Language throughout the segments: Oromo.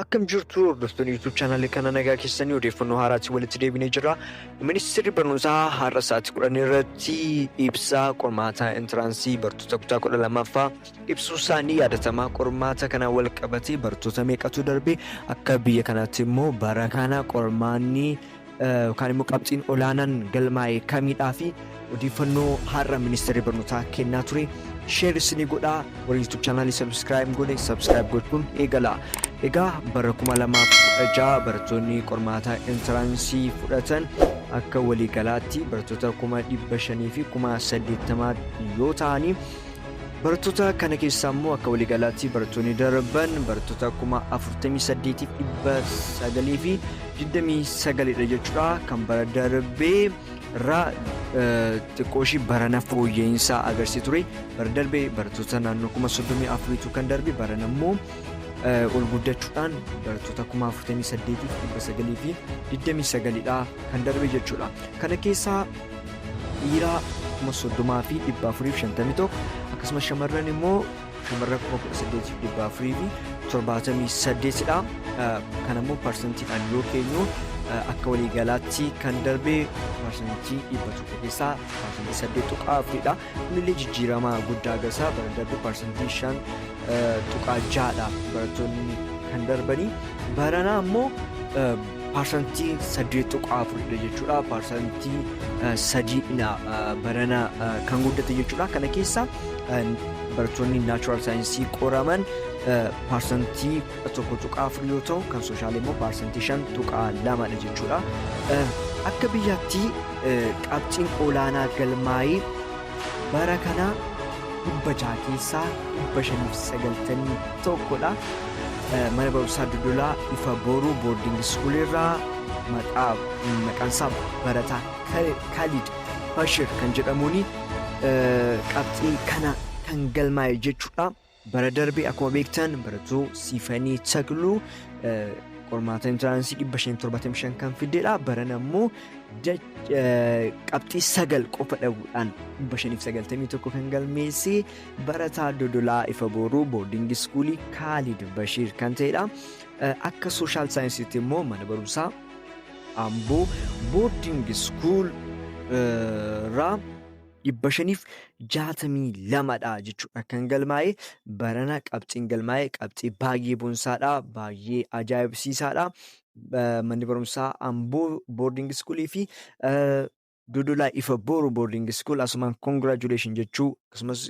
Akkam jirtu hordoftoonni YouTube chaanaalii kana nagaa keessanii odeeffannoo haaraatti walitti deebinee jirra. Ministeerri barnootaa har'a sa'aatii kudhan irratti ibsaa qormaataa intiraansii bartoota kutaa kudha lamaffaa ibsuu isaanii yaadatamaa qormaata kana wal qabatee bartoota meeqatu darbe akka biyya kanaatti immoo bara kana qormaanni yookaan immoo qabxiin olaanaan galmaa'e kamiidhaa fi odeeffannoo har'a ministeerri barnootaa kennaa ture sheer isinii godhaa warri yuutuub chaanaalii sabskiraayib godhe sabskiraayib gochuun eegala. Egaa bara 2016 barattoonni qormaata intiraansii fudhatan akka waliigalaatti barattoota 500 fi 80 yoo ta'anii Barattoota kana keessaa immoo akka waliigalaatti barattoonni darban barattoota kuma 48,929 dha jechuudha. Kan bara darbee irraa xiqqoo ishii barana fooyya'insa agarsiisa ture. Bara darbee barattoota naannoo kuma 34tu kan darbe barana immoo ol guddachuudhaan barattoota kuma 48,929 dha kan darbe jechuudha. Kana keessaa dhiiraa 30,451 akkasumas shamarran immoo shamarran 18,478 dha. Kan ammoo parsantiidhaan yoo keenyu akka waliigalaatti kan darbe parsantii 100 keessaa parsantii 8.4 dha. Kunillee jijjiirama guddaa agarsiisa. Bara darbe parsantii 5.6 dha barattoonni kan darbanii. Barana ammoo Parsantii 8.4 dha jechuudha. Parsantii sadiidha barana kan guddate jechuudha. Kana keessa barattoonni naachuraal saayinsii qoraman parsantii 1.4 yoo ta'u kan sooshaal immoo parsantii 5.2 dha jechuudha. Akka biyyaatti qabxiin olaanaa galmaa'ee bara kana 600 keessaa 591 dha. Mana barumsaa Dodolaa Ifa Booruu Boarding School irraa maqaa maqaan isaa barataa Khalid Bashir kan jedhamuun qabxii kana kan galmaa'e jechuudha. Bara darbe akkuma beektan barattuu Siifanii Takluu qormaata intiraansii 575 kan fiddedha. Baran ammoo qabxii sagal qofa dhabuudhaan 591 kan galmeesse barataa Dodolaa Ifa Booruu boordiingi iskuulii Kaalid Bashiir kan ta'edha. Akka sooshaal saayinsiitti immoo mana barumsaa Amboo boordiingi iskuul irraa dhibba shaniif jaatamii lamadha jechuudha kan galmaa'e barana qabxiin galmaa'e qabxii baay'ee bonsaadha baay'ee ajaa'ibsiisaadha manni barumsaa amboo boarding iskuulii fi dodolaa ifa booru boarding iskuul asumaan congratulation jechuu akkasumas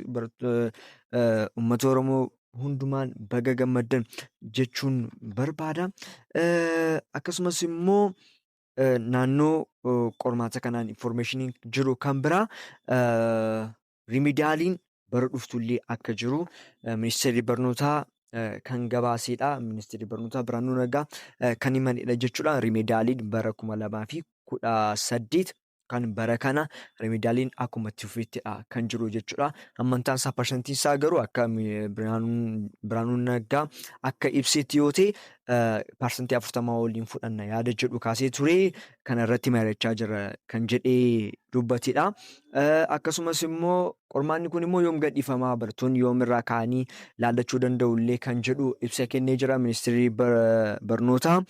uummata oromoo hundumaan baga gammaddan jechuun barbaada akkasumas immoo eh, naannoo eh, qormaata kanaan information jiru kan biraa eh, rimidaaliin bara dhuftullee akka jiru eh, ministeerri barnootaa eh, kan gabaaseedha. Ministeerri barnootaa Birhaanuu Nagaa eh, kan himanidha jechuudha. Rimidaaliin bara kuma lamaa fi kudha saddeet kan bara kana remidaaliin akkuma itti fufeettidha kan jiru jechuudha. Hammantaan isaa parsantiin isaa garuu akka Biraanuun Naggaa akka ibseetti yoo ta'e parsantii afurtamaa waliin fudhanna yaada jedhu kaasee ture kana irratti mari'achaa jira kan jedhee dubbatedha. Akkasumas immoo qormaanni kun immoo yoom gadhiifamaa barattoonni yoom irraa ka'anii laallachuu danda'u illee kan jedhu ibsa kennee jira ministeerri barnootaa.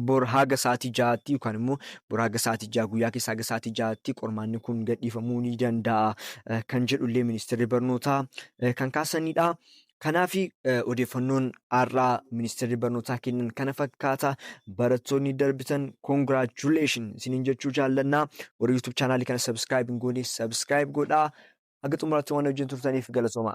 bor haga sa'aatii ja'aatti yookaan immoo bor haga sa'aatii ja'a guyyaa keessa haga sa'aatii ja'aatti qormaanni kun gadhiifamuu ni danda'a eh, kan jedhu illee ministeerri barnootaa eh, kan kaasanidha. Kanaaf eh, odeeffannoon har'aa ministeerri barnootaa kennan kana fakkaata. Barattoonni darbitan congratulation isiniin jechuu jaallannaa. Warri YouTube chaanaalii kana subscribe hin goone subscribe godhaa. Haga xumuraatti waan wajjin turtaniif galatoomaa.